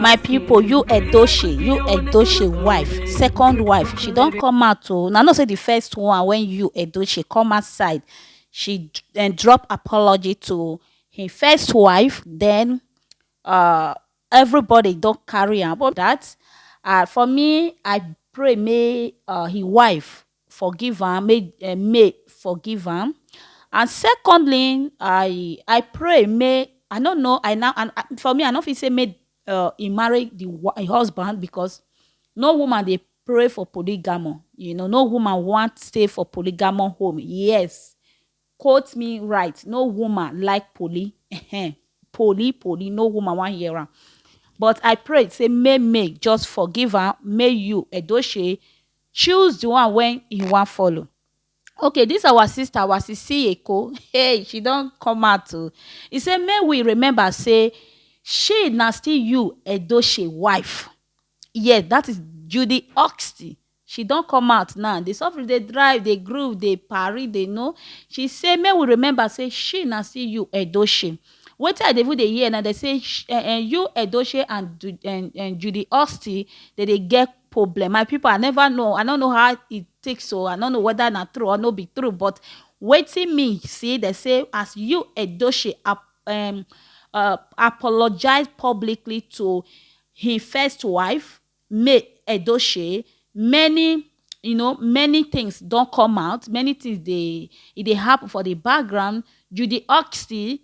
my pipo you edochie you edochie wife second wife she don come out o una know say di first one wen you edochie come outside she um drop apology to im first wife den um everybody don carry am for dat and for me I pray make um im wife forgive am, make um May forgive am. And secondly, I I pray make I no know I now and and for me I no fit say make um he marry the wi- im husband because no woman dey pray for polygamy. You know, no woman want stay for polygamy home. Yes, quote me right. No woman like poly. Ehen. poly, poly. No woman want hear am. But I pray say may May just forgive am. May you Edoche choose the one wey you wan follow okay this our sister wasisi eko hey she don come out o e say make we remember say she na still you edoche wife yes that is judy oxty she don come out now the suffering dey drive dey groove dey parry dey know she say make we remember say she na still you edoche wetin i dey even dey hear na dey say sh- eh, eh, you edoche and Du- eh, eh, judy oxty dey dey get problem my people i never know i no know how e take so i no know whether na true or no be true but wetin me see dey say as you edoche um, uh, apologize publicly to him first wife may edoche many you know many things don come out many things dey e dey happen for the background judy oxy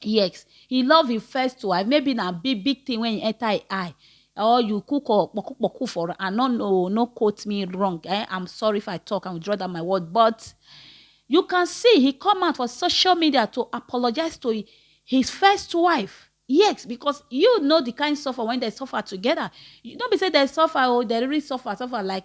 Yes, he love him first wife. Maybe na big big thing when he enter him eye. Or you cook or poku poku for her. I no know, no quote me wrong. Eh? I'm sorry if I talk and withdraw that my word. But you can see he come out for social media to apologize to hi- his first wife. Yes, because you know the kind suffer when they suffer together. You don't be say they suffer or they really suffer, suffer like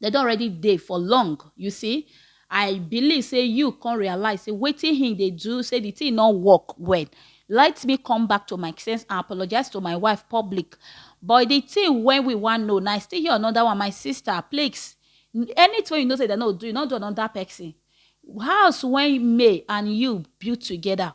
Dem don already dey for long, you see. I believe say you come realize say wetin him dey do say the thing no work well. Let me come back to my sense and apologize to my wife public. But the thing wey we wan know na I still hear another one, my sister plex anything wey you know say dem no do, you no do another person. House wey May and you build together,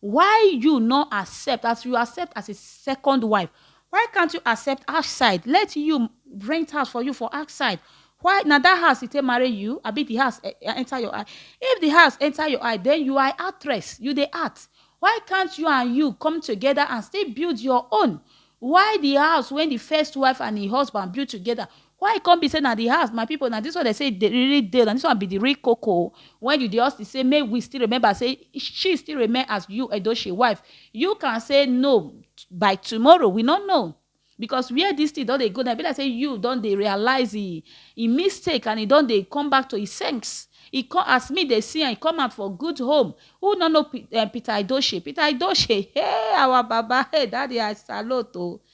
Why you no accept as you accept as a second wife why can't you accept outside let you rent house for you for outside why na that house e take marry you abi the house e- e- enter your eye if the house enter your eye then you are actress you dey act why can't you and you come together and still build your own why the house when the first wife and the husband build together Why e come be say na the house my people na this one dem say dey really dey na this one be the real koko when you dey hustle say make we still remember say she still remain as you Edochie wife you can say no by tomorrow we no know because where this thing don dey go now e be like say you don dey realize e e mistake and e don dey come back to e sense e come as me dey see am e come out for good home who no know Pe- eh, Peter Edochie Peter Edochie hey our baba hey daddy I salute o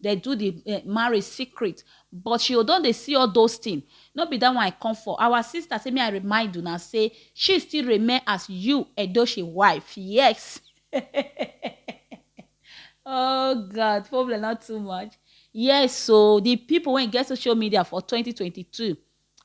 Dem do the marriage secret but she o don dey see all those thing. No be that one I come for. Our sister say make I remind una say she still remain as you Edochie wife yes oh God problem no too much yes o the people wey get social media for twenty twenty two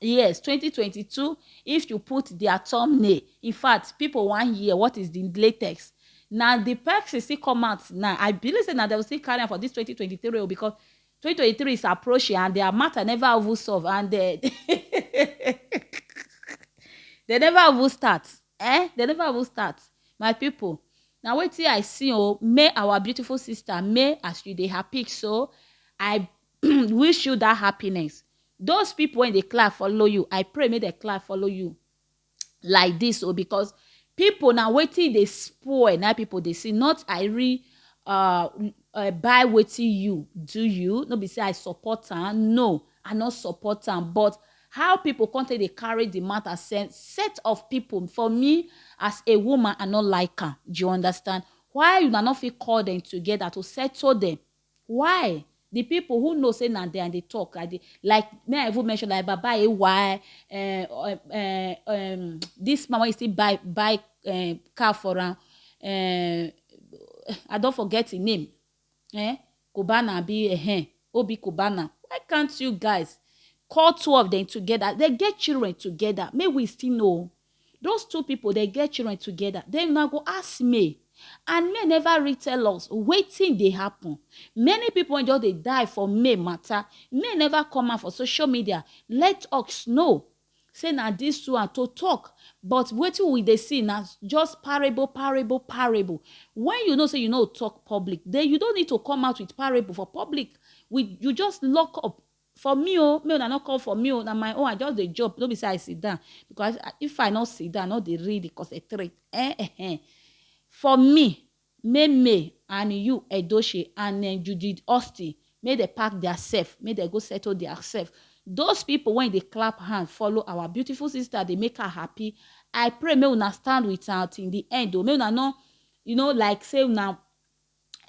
Yes, 2022, if you put their thumbnail, in fact, people wan hear what is the latest. Na the person still come out now. I believe say na they will still carry am for this 2023 o because 2023 is approaching and their matter never even solve and they, they never even start. Eh? They never even start. My people, na wetin I see o, may our beautiful sister, may as you dey happy so, I wish you that happiness those people when they clap follow you i pray make they clap follow you like this o oh, because people na wetin dey spoil na people dey see not i re uh, uh, buy wetin you do you no be say i support am no i no support am but how people come take dey carry the matter send set of people for me as a woman i no like am you understand why una no fit call them together to settle them Why di pipo who know say na dem I dey tok like like make I even mention like baba AY um um dis man wey e still buy buy um car for am um I don forget im name um Cubana abi um Oby Cubana why can't you guys call two of dem together dem get children together make we still know Those two people dey get children together, then una go ask me and me never read tell us wetin dey happen. Many people wey just dey die for me matter, me never come out for social media let us know say na this two and to talk but wetin we dey see na just parable, parable, parable. When you know say you no talk public, then you don't need to come out with parable for public. We, you just lock up For me o, make una no come for me o, na my own I just dey jump no be say I sit down because if I no sit down I no dey read dey concentrate eh ehen for me make me and you Edochie and um Judith Austin make dem pack their self make dem go settle their self those people wey dey clap hand follow our beautiful sister dey make her happy I pray make una stand with am till the end o make una no you know like say una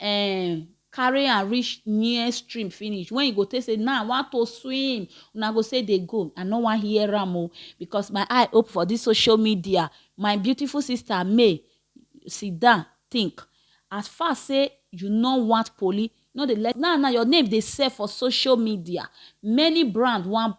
um carry am reach near stream finish when you go take say now i want to swim una go say dey go i no wan hear am o because my eye open for this social media my beautiful sister may sit down think as far say you no want police no dey let now now your name dey sell for social media many brand wan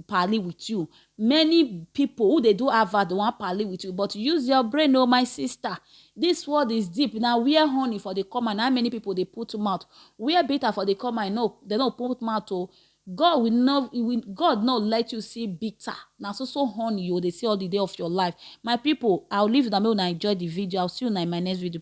pali with you Many people who dey do advert wan pali with you but use your brain o oh, my sister. This world is deep na where honey for dey come and how many people dey put mouth where bitter for dey come and no dem no put mouth o. Oh. God will not will, God not let you see bitter. Now so so honey you they see all the day of your life. My people, I'll leave you now. May I enjoy the video. I'll see you now in my next video.